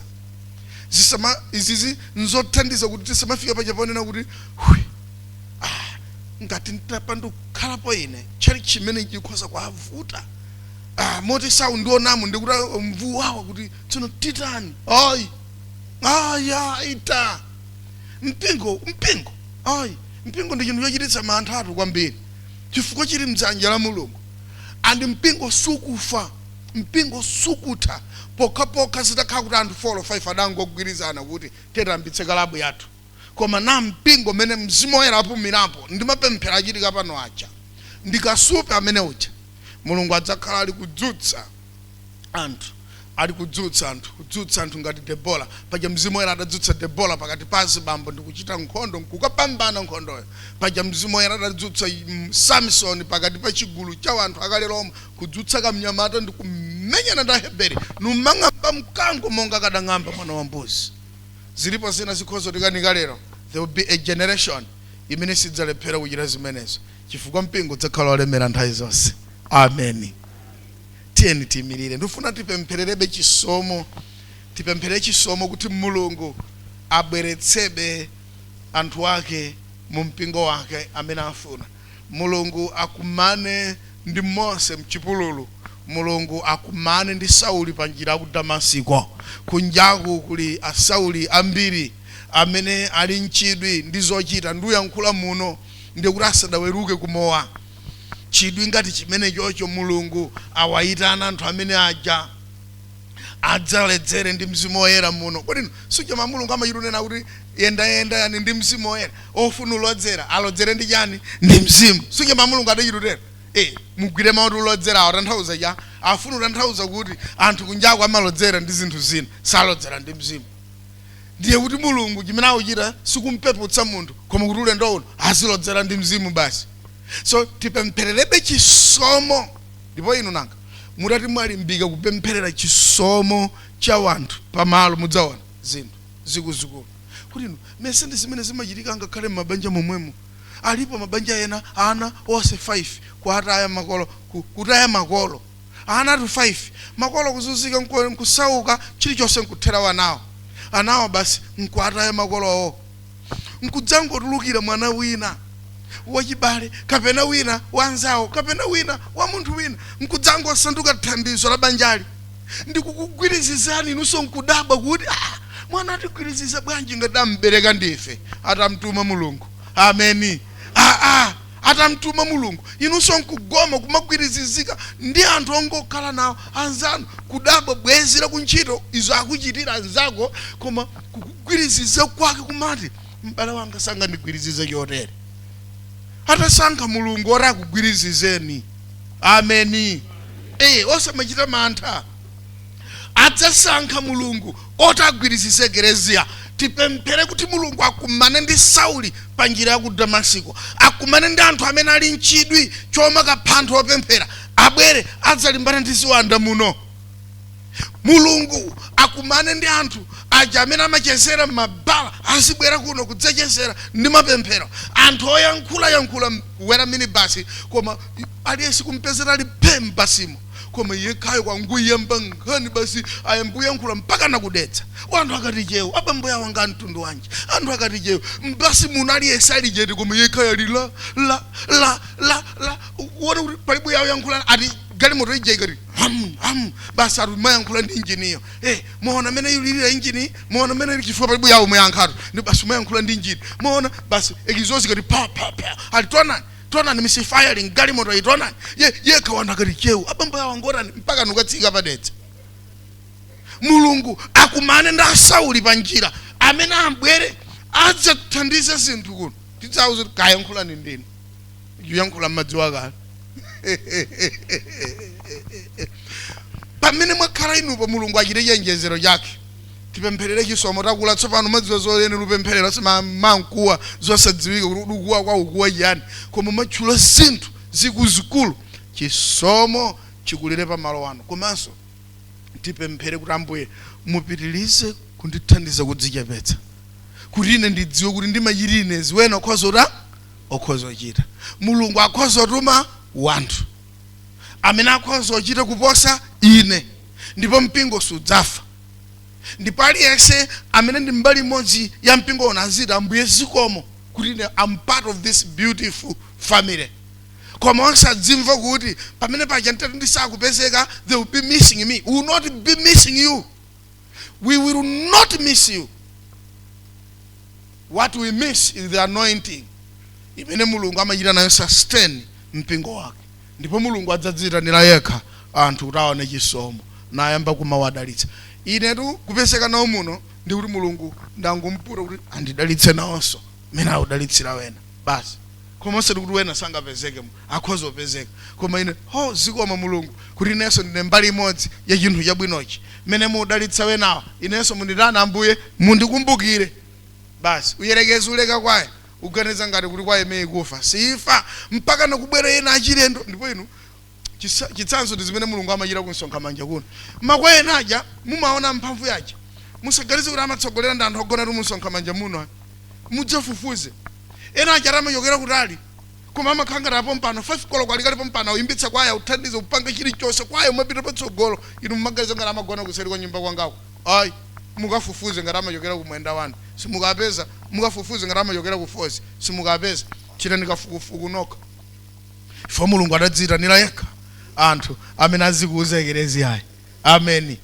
zisama izizi nzothandiza kuti tisamafika paja ponena kuti "Hwi, ah, ngati nditapandukhalapo ine tchalitchi chimene chikhoza kuwavuta ah, moti saundionamo ndikuti ah, mvuwawa kuti tsono titani ayi ayi ayi ta mpingo mpingo ayi mpingo ndi chinthu chochititsa manthatu kwambiri chifukwa chili mdzanja la mulungu and mpingo sukufa mpingo sukutha pokhapokha zitakhala kuti anthu 4 or 5 adangogwirizana kuti tiyambitse kalabu yathu koma na mpingo umene Mzimu Woyera apumirapo ndi mapemphero achitika pano aja, ndi kasupe amene uja, Mulungu adzakhala ali kudzutsa anthu, ali kudzutsa anthu, kudzutsa anthu ngati Debora. Paja Mzimu Woyera adadzutsa Debora pakati pa azibambo ndi kuchita nkhondo nkukapambana nkhondoyo. Paja Mzimu Woyera adadzutsa mm, Samisoni pakati pa chigulu cha anthu akale lomwe, kudzutsa kamnyamata ndi kumenyana ndi Aheberi, numang'amba mkango monga kadang'amba mwana wa mbuzi. Ziripo zina zikhoza kutikanika lero, there will be a generation imene sidzalephera kuchita zimenezo, chifukwa mpingo udzakhala wolemera nthawi zonse. Ameni. Tiyeni tiimirire. Ndikufuna tipemphererebe chisomo, tipempherere chisomo kuti Mulungu abweretsebe anthu ake mu mpingo wake amene afuna. Mulungu akumane ndi Mose mchipululu, Mulungu akumane ndi Sauli panjira yaku Damasiko. Kunjaku kuli a Sauli ambiri amene ali nchidwi ndi zochita, nduyankhula muno ndikuti asadaweruke ku mowa. Chidwi ngati chimenechocho Mulungu awayitana anthu amene aja. adzaledzere ndi mzimu woyera muno kodi suja mawu a mulungu amachitunena kuti yendayendani ndi mzimu woyera ofuna ulodzera alodzere ndi chani ndi mzimu suja mawu a mulungu adachitutero e mugwire mawu oti ulodzerawo atanthauza cha afuna utanthauza kuti anthu kunjako amalodzera ndi zinthu zina salodzera ndi mzimu ndiye kuti mulungu chimene akuchita sikumpeputsa munthu koma kuti ulendo uno azilodzera ndi mzimu basi so tipemphererebe chisomo Ndipo inu nanga, mutati mwalimbika kupempherera chisomo cha wanthu pa malo, mudzaona zinthu zikuzikulu. Kodi inu imeneyi ndi zimene zimachitika angakhale m'mabanja momwemo. Alipo mabanja ena ana onse 5 kuataya makolo, ku, kutaya makolo. Anatu 5, makolo kuzunzika nko, nkusauka chilichonse nkuthera anawo. Anawo basi nkuataya makolo owo. nkudzangotulukira mwana wina wachibale kapena wina wa anzawo kapena wina wa munthu wina nkudzangosanduka thandizo la banjali ndikukugwirizizani inunso nkudabwa kuti ah, mwana atigwiriziza bwanji ngati ambereka ndife atamtuma mulungu ameni aa ah, ah. atamtuma Mulungu, inunso nkugoma kumagwirizizika ndi anthu ongokhala nawo anzanu, kudabwa bwenzi la kuntchito zija akuchitira anzako, koma kukugwiriziza kwake kumati, M'bale wanga sangandigwirizize chotere. Atasankha Mulungu woti akugwirizizeni. Ameni. Eh, osamachita mantha. adzasankha mulungu woti agwirizize eklezia tipemphere kuti mulungu akumane ndi sauli pa njira ya ku damasiko akumane ndi anthu amene ali nchidwi chomakapha anthu opemphera abwere adzalimbana ndi ziwanda muno mulungu akumane ndi anthu aja amene amachezera mmabala azibwera kuno kudzachezera ndi mapemphero anthu oyankhula yankhula kukwera minibasi koma aliyense kumpeza ali phe mbasimo koma yekhayo kungoyamba nkhani basi ayamba kuyankhula mpakana kukatsika anthu akati cheu abambo awa nga mtundu wanji anthu akati cheu mbasi muno aliyense ali chete koma yekhayo ali la la la la la uone kuti palibe owayankhula ati galimoto ija ikati ham ham basi ati amayankhula ndi injiniyo eh muona mene ikulilira injini muona mene ili chifukwa palibe owayankhatu ndi basi amayankhula ndi injini muona basi ekizozi ikati pa pa pa ati taonani taonani misifayala mgalimoto iyi taonani iye yekha wanthu akati cheu abambo awa ngotani mpaka nkukatsika pa dedza mulungu akumane ndi asauli pa njira ameni abwere adzathandize zinthu kuno tidzawauza kuti kayankhulani ndinu oyankhula mmadziwa kale pamene mwakhala inupo mulungu achite chionjezero chake tipempherere chisomo takula tsopano mumadziwa zoyenera kupempherera sikumangokuwa zosadziwika kuti ukukuwa koma ukukuwa chiyani koma kumatchula zinthu zikuzikulu chisomo chikulire pa malo ano komanso tipemphere kuti ambuye mupitirize kundithandiza kudzichepetsa kuti ine ndidziwe kuti ndimachita ine zimene akhoza kuta akhoza kuchita mulungu akhoza kutuma wanthu amene akhoza kuchita kuposa ine ndipo mpingo siudzafa ndipo aliyense amene ndi mbali imodzi ya mpingo uno aziti ambuye zikomo kuti am part of this beautiful family koma osadzimva kuti pamene paja nditati ndisakupezeka they will be missing me we will not be missing you we will not miss you what we miss is the anointing imene mulungu amachita nayo sustain mpingo wake Ndipo Mulungu adzadziitanira Yekha anthu kuti awone chisomo, nayamba kumawadalitsa. Inetu kupezeka nawo muno, ndiye kuti Mulungu ndangomuputa kuti andidalitse nawonso, mmene akudalitsira ena. Basi. Koma osati kuti ena sangapezekemo. Akhoza kupezeka. Koma ine, ho, zikomo Mulungu, kuti inenso ndine mbali imodzi ya chinthu chabwinochi. Mmene mukudalitsa enawa, inenso munditani, Ambuye? Mundikumbukire. Basi. Uyerekeze uleke kwa. uganiza ngati kuti kwaya imeneyi ikufa siifa mpakana kubwera ena achilendo ndipo inu chisa- chitsanzo ndi zimene mulungu amachita ku Msonkhamanja kuno makwaya ena aja mumaona mphamvu yaja musaganize kuti amatsogolera ndi anthu ogonatu mu Msonkhamanja muno ayi. mudzafufuze ena aja amachokera kutali koma amakhala ngati apompano 5 koloko ali kale pompano uyimbitsa kwaya uthandize upange chilichonse kwaya imapita patsogolo inu mumaganiza ngati amagona kuseri kwa nyumba kwangako Ayi. Mukafufuze ngati amachokera ku Mwenda 1. Simukapeza. Mukafufuze ngati amachokera ku Falls. Simukapeza. Chitani kafukufuku nokha. Chifukwa Mulungu adadziyitanira yekha anthu amene azikuza ekeleziyayi. Ameni.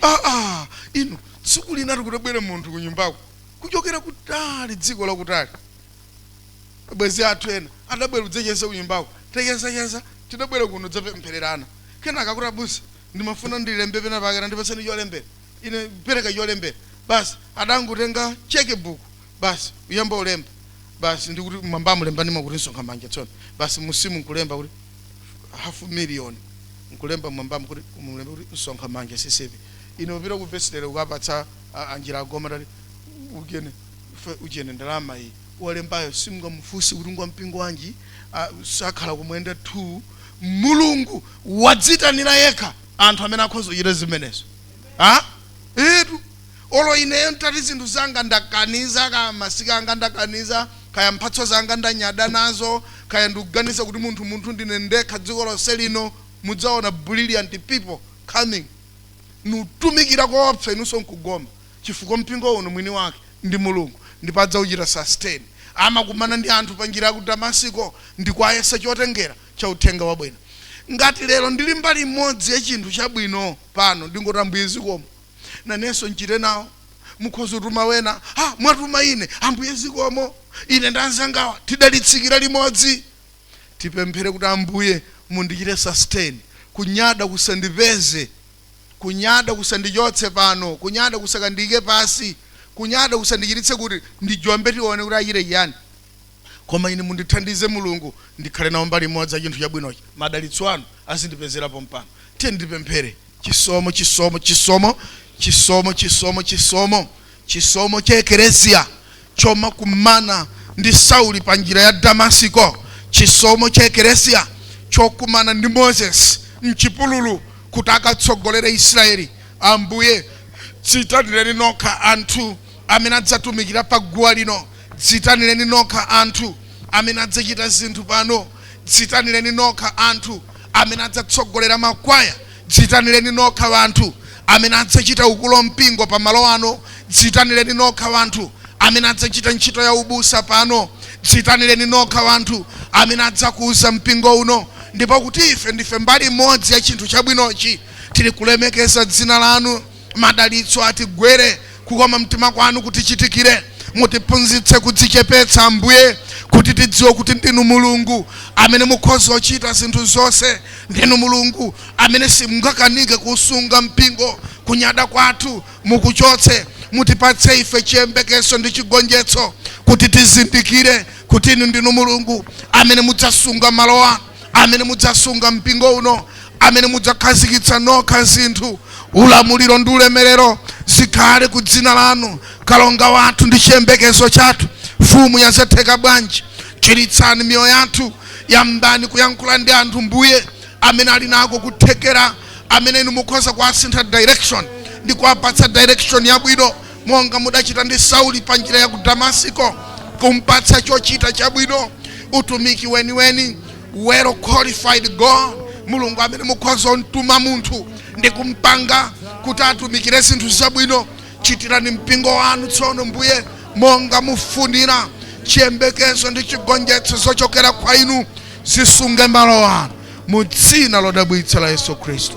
Aa! Inu, tsiku linatu kutabwera munthu kunyumbaku kuchokera kutali, dziko lakutali. Abwenzi athu ena adabwera kudzacheza kunyumbaku. Tachezacheza, tidabwera kuno kudzapemphererana. Kenaka akuti, Abusa, ndimafuna ndilembe pena pake tandipatseni cholembera ine pereka cholembera basi adangotenga cheque book basi kuyamba kulemba basi ndikuti mwambamu lembanimo kuti Msonkhamanja tsono basi musimu nkulemba kuti half million nkulemba mwambamu kuti mulembe kuti Msonkhamanja CCAP ine kupita ku vestry ukapatsa a- anjira agoma tati ujene fe- ujene ndalama iyi wolembayo simungamufunsi kuti ngwampingo wanji ah, sakhala ku Mwenda 2 mulungu wadziitanira yekha anthu amene akhoza kuchita zimenezo ha etu olo ineyo ntati zinthu zanga ndakaniza kaya masika anga ndakaniza kaya mphatso zanga ndanyada nazo kaya ndikuganiza kuti munthu munthu ndine ndekha dziko lonse lino mudzaona brilliant people coming nkutumikira koopsa inunso nkugoma chifukwa mpingo uno mwini wake ndi Mulungu ndipo adzauchita sustain. Amakumana ndi anthu pa njira ya ku Damasiko ndi kuwayesa chotengera cha uthenga wabwino. Ngati lero ndili mbali imodzi ya chinthu chabwino pano, ndingoti Ambuye zikomo. Nanenso nchite nawo. Mukhoza kutuma ena. Ha! Mwatuma ine. Ambuye zikomo. Ine ndi anzangawa tidalitsikira limodzi. Tipemphere kuti Ambuye mundichite sustain, kunyada kusandipeze. Kunyada kusandichotse pano. Kunyada kusakandiike pansi. Kunyada kusandichititse kuti ndijombe tione kuti achite chiyani. Koma ine mundithandize Mulungu ndikhale nawo mbali imodzi ya chinthu chabwinochi. Madalitso anu azindipezera pompano. Tiyeni tipemphere. Chisomo, chisomo, chisomo, chisomo, chisomo, chisomo. Chisomo cha Ekereziya chomakumana ndi Sauli pa njira ya Damasiko, chisomo cha Ekereziya chokumana ndi Moses mchipululu kuti akatsogolere Israeli, Ambuye dziitanireni nokha anthu amene adzatumikira pa guwa lino, dziitanireni nokha anthu amene adzachita zinthu pano, dziitanireni nokha anthu amene adzatsogolera makwaya. Dziitanireni nokha wanthu amene adzachita ukulu wa mpingo pa malo ano. Dziitanireni nokha wanthu amene adzachita ntchito ya ubusa pano. Dziitanireni nokha wanthu amene adzakuza mpingo uno. Ndipo kuti ife ndife mbali imodzi ya chinthu chabwinochi, tili kulemekeza dzina lanu. Madalitso atigwere, kukoma mtima kwanu kutichitikire, mutiphunzitse kudzichepetsa, Ambuye, kuti tidziwe kuti ndinu Mulungu amene mukhoza kuchita zinthu zonse, ndinu Mulungu amene simungakanike kuusunga mpingo, kunyada kwathu mukuchotse, mutipatse ife chiyembekezo ndi chigonjetso, kuti tizindikire kuti inu ndinu Mulungu amene mudzasunga malo anu. amene mudzasunga mpingo uno, amene mudzakhazikitsa nokha zinthu, ulamuliro ndi ulemerero zikhale ku dzina lanu, kalonga wathu ndi chiyembekezo chathu, mfumu ya zatheka bwanji. Chiritsani miyoyo yathu, yambani kuyankhula ndi anthu Mbuye amene ali nako kuthekera, amene inu mukhoza kuwasintha direction ndi kuwapatsa direction yabwino. monga mudachita ndi Sauli pa njira ya ku Damasiko, kumpatsa chochita chabwino, utumiki weniweni, well qualified God, Mulungu amene mukhoza kumtuma munthu ndi kumpanga kuti atumikire zinthu zabwino. Chitirani mpingo wanu tsono, Mbuye, monga mufunira. Chiyembekezo ndi chigonjetso zochokera kwa Inu zisunge malo ano, mu dzina lodabwitsa la Yesu Khristu.